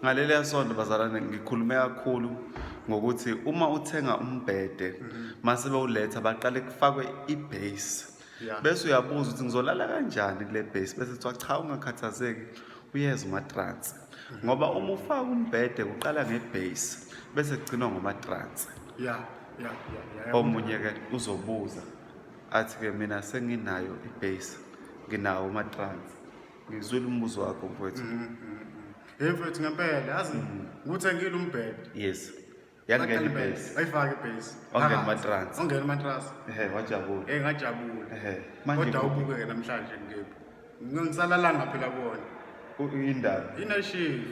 ngaleliya sonto bazalwane ngikhulume kakhulu ngokuthi uma uthenga umbhede mase bewuletha baqale kufakwe ibase bese uyabuza ukuthi ngizolala kanjani kule base bese kuthiwa cha ungakhathazeki uyeza umatransi ngoba uma ufaka umbhede kuqala ngebase bese kugcinwa ngomatransi ya ya ya omunye ke uzobuza athi ke mina senginayo ibase nginawo umatransi ngizwile umbuzo wakho mfowethu mm, mm, mm. hey mfowethu ngempela yazi ngikuthengile umbhede yes yangena ibase ayifake ibase ongena matrans ongena matrans ehe wajabula eh ngajabula ehe manje kodwa ubuke ke namhlanje ngikephi ngisalalanga phela kuona indaba ina shift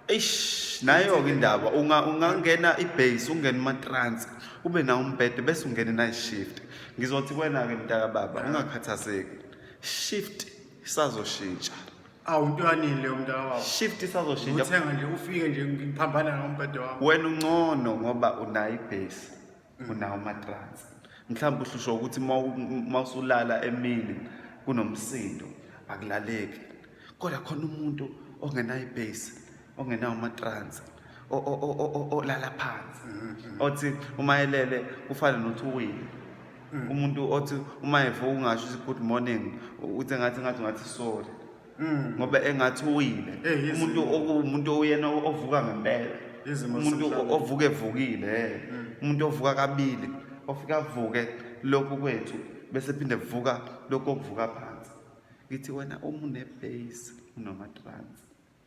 eish nayo ke indaba unga ungangena ibase ungena matrans ube na umbhede bese ungena night shift ngizothi kwena ke mntaka baba ungakhathazeki shift isazoshintsha awu into yanini leyo mntaka wabo shift isazoshintsha uthenga nje ufike nje ngiphambana ngombhede wami wena uncono ngoba unayo ibhesi mm. unawo amatransi mhlawumbe uhlushwa ukuthi uma usulala emini kunomsindo akulaleki kodwa khona umuntu ongenayo ibhesi ongenawo amatransi o- o- o- o- o- olala phansi Mm-hmm. othi uma elele kufane nothi uwile Mm. umuntu othi uma evuka ungasho ukuthi good morning u- uthi ngathi ngathi ngathi sorry Mm. ngoba engathi uwile Eh, yes. umuntu oku- umuntu oyena o- ovuka ngempela Izimo umuntu o- zasemhlabeni. ovuka evukile eh. Mm. umuntu ovuka kabili ofika avuke lokhu kwethu bese phinde vuka lokhu okuvuka phansi ngithi wena umunebase unomatransi